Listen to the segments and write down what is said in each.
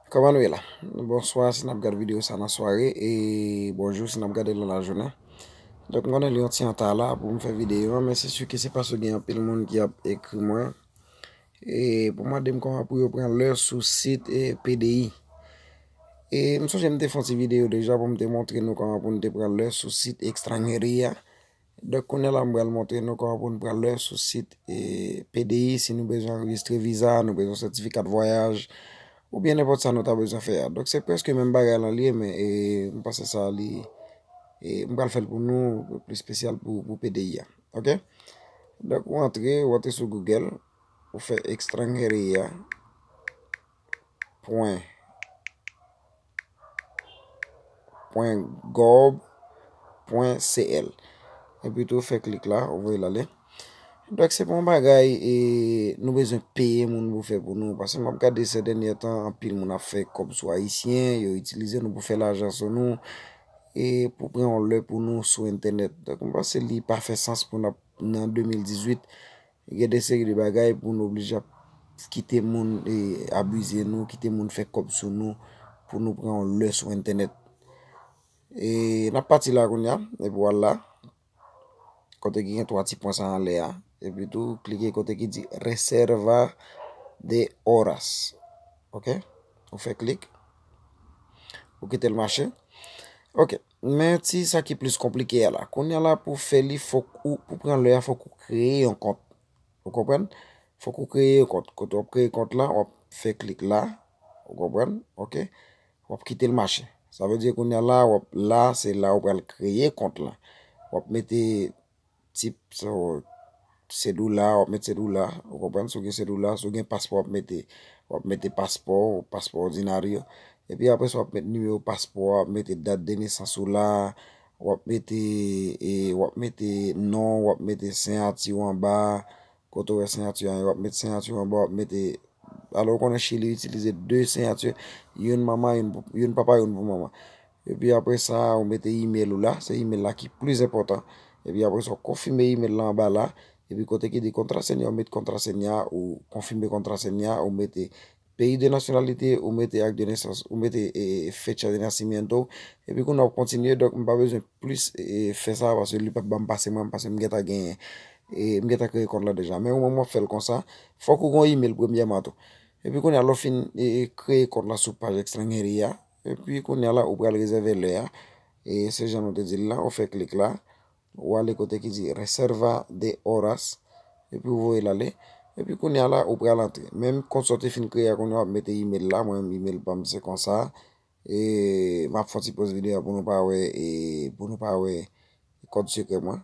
Kòman nou ye la? Bonswa si nap gad videyo sa nan sware e bonjou si nap gade l nan lajounen. Donk m konnen li yon ti anta la pou m fè videyo an men se si ke se paske gen anpil moun ki ap ekri mwen e pou mande m kòman pou yo pran lè sou sit PDI. E m sonje m te fè yon ti videyo deja pou m te montre nou kòman pou nou te pran lè sou sit Extraneria. Donk kounye la m pral montre nou kòman pou nou pral lè sou sit PDI si nou bezwen anrejistre viza, nou bezwen sètifika de vwayaj ou byen nenpòt sa nou ta bezwen fè a. Donk se prèske menm bagay lan l ye men m panse sa li m pral fè l pou nou plis spesyal pou PDI a ok. Donk ou antre ou antre sou Google ou fè extranheria pwen. www.gov.cl Epi tou fè klik la, ou voye l ale. Dok se pa yon bagay e nou bezwen peye moun pou fè pou nou. Pase m ap gade se dènyè tan anpil moun ap fè kòb sou Ayisyen, yo itilize nou pou fè lajan sou nou. E pou pran yon lè pou nou sou entènèt. Dok m panse li pa fè sans pou n ap nan 2018. Gen de seri de bagay pou nou oblije ap kite moun abize nou, kite moun fè kòb sou nou pou nou pran yon lè sou entènèt. E n ap pati la kounya, e pou al la, kote ki gen 3 ti pwen sa anlè a, e pi tou klike kote ki di reserva de horas. Ok, ou fè klik, ou kite l mache. Ok, Men ti sa ki plis konplike a la. Kounye a la pou w fè li fòk ou, pou pran lè a fòk ou kreye yon kont. Ou konprann? Fòk ou kreye yon kont. Kote wap kreye kont la, wap fè klik la. Ou konprann? Ok. Wap kite l mache. Sa vle di kounye a la, wap la, se la ou pral kreye kont la. Wap mete. tip sa w sedoula wap met sedoula ou konprann si w gen sedoula si w gen paspò wap mete wap mete paspò w paspò òdinaryo epi apre sa wap mete nimewo paspò w wap mete dat de nesans ou la wap mete e wap mete non w wap mete siyati w anba kote w wè siyati w a ye wap mete siyati w anba wap mete alò ou konnen chili itilize de siyati youn manman youn papa youn pou manman Epi apre sa a ou mete email ou la, se email la ki plis enpòtan. Epi apre sa ou konfime email la anba la, epi kote ki di kontrasenya ou met kontrasenya, ou konfime kontrasenya, ou mete peyi de nasyonalite, ou mete ak de nesans, ou mete fecha de nasimyento, epi kounye a ou kontinye, donk m pa bezwen plis fè sa a paske li pap banm pase mwen, paske m gentan genyen, m gentan kreye kont la deja. Men ou menm wap fè l konsa, fòk ou gon email premyèman tou. Epi kounye a lè ou fin kreye kont la sou paj Xlengeri a, Epi kounye a la ou pral rezève lè a. E se jan nou te di l la, ou fè klik la. Ou ale kote ki di reserva de horas. Epi ou voye l ale. Epi kounye a la ou pral antre. Menm kont sa w te fin kreye a kounye a w ap mete email la. Mwen menm email pa m se konsa. E m ap fè yon ti poz videyo pou nou pa wè e pou nou pa wè kòd sekrè mwen.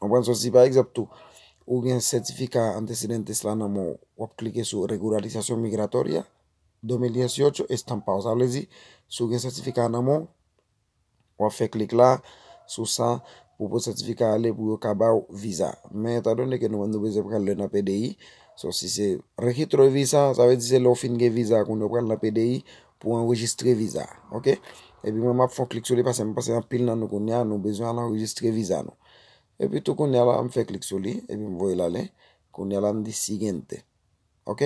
Konprann sa si pa egzanp tou ou gen sètifika antecedentes la nan men w, w ap klike sou Regularizasyon Migratoria, 2018, Estampa w. Sa vle di, si w gen sètifika a nan men w, w ap fè klik la sou sa pou pote sètifika a ale pou yo ka ba w viza. Men etandone ke nou menm nou bezwen pran lè nan PDI, so si se Regitro de Visa, sa vle di se lè w fin gen viza a kounya w pral nan PDI, pou anrejistre viza ok epi mwen map fon klik sou li pase mwen pase yon pil nan nou kounye a nou bezwen al anrejistre viza nou epi tou kounye a la mwen fè klik sou li epi mwen voye lale kounye a la mwen di siguiente ok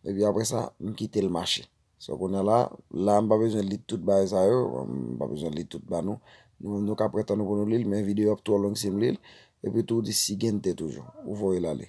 epi apre sa mwen kite l mache sa kounye a la la mwen pa bezwen li tout bagay sa yo mwen pa bezwen li tout bagay nou nou ka pran tan nou pou nou li l men videyo ap twò long si m li l epi tou di siguiente toujou ou voye lale.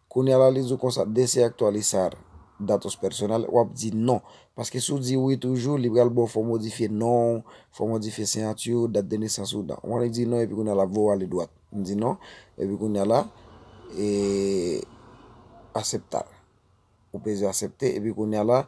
Kounya la li di w konsa dese aktualisar datos personal wap di non paske si w di wi toujou li pral ba w fò w modifye non w fò w modifye siyati w dat de nesans w dan wan li di non epi kounya la voye w ale dwat m di non epi kounya la e aseptar ou peze asepte epi kounya la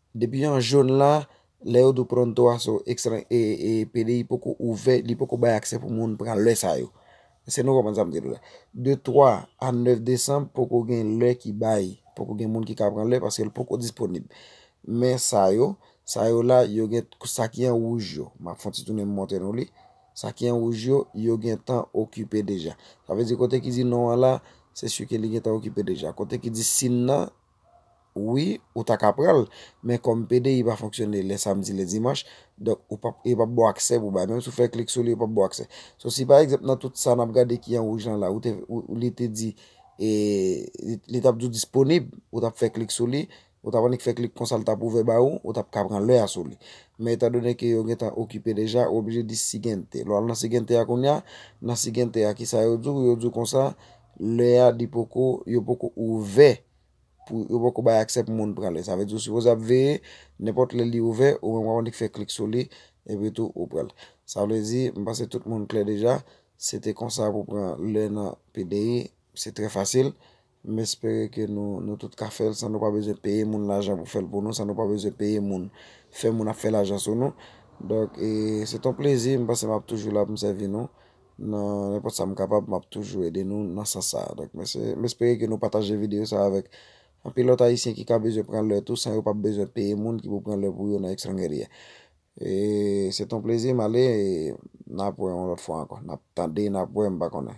Depi an jaune la, lè yo di w Pronto a so ekstran e e pdi poko ouvè, li poko bay aksè pou moun pran lè sa yo. Èske nou konprann sa m di nou la? De 3 a 9 desanm poko gen lè ki bay, poko gen moun ki ka pran lè paske l poko disponib. Men sa yo, sa yo la yo gen sa ki an wouj yo, m ap fon ti tounen m montre nou li. Sa ki an wouj yo, yo gentan okipe deja. Sa vle di kote ki di non an la, se si ke li gentan okipe deja. Kote ki di sin nan. wi ou ta ka pranl men kòm pdi pa fonksyone lè samdi lè dimanch donk ou pap yo pap baw aksè pou bay menm si ou fè klik sou li yo pap baw aksè so si pa egzanp nan tout sa nap gade ki an wouj lan la ou te li te di e li tap di w disponib ou tap fè klik sou li ou tap annik fè klik konsa li tap ouvè ba ou ou tap ka pran lè a sou li men etan done ke yo gentan okipe deja ou oblije di sigente lè w al nan sigente a kounya nan sigente a kisa yo di w yo di w konsa Lè a li poko, yo poko ouvè pou yo poko bay aksè pou moun pran li. Sa vle di ou sipoze ap veye, nenpòt lè li ouvè, ou menm wap annik fè klik sou li, epi tou ou pran li. Sa vle di, m panse tout moun klè deja, se te konsa pou pran lè nan PDI, se trè fasil. M espere ke nou nou tout ka fè l san nou pa bezwen peye moun lajan pou fè l pou nou, san nou pa bezwen peye moun, fè moun ap fè lajan sou nou. Donk e se t on plezi, m panse m ap toujou la pou m sèvi nou. Nan nenpòt sa m kapab, m ap toujou ede nou nan sans sa a. Donk mesi. M espere ke nou pataje videyo sa a avèk anpil lòt Ayisyen ki ka bezwen pran lè tou san yo pap bezwen peye moun ki pou pran lè pou yo nan Extrangeria. E se te yon plezi. M ale e n ap wè yon lòt fwa ankò. N ap tande, n ap wè, m pa konnen.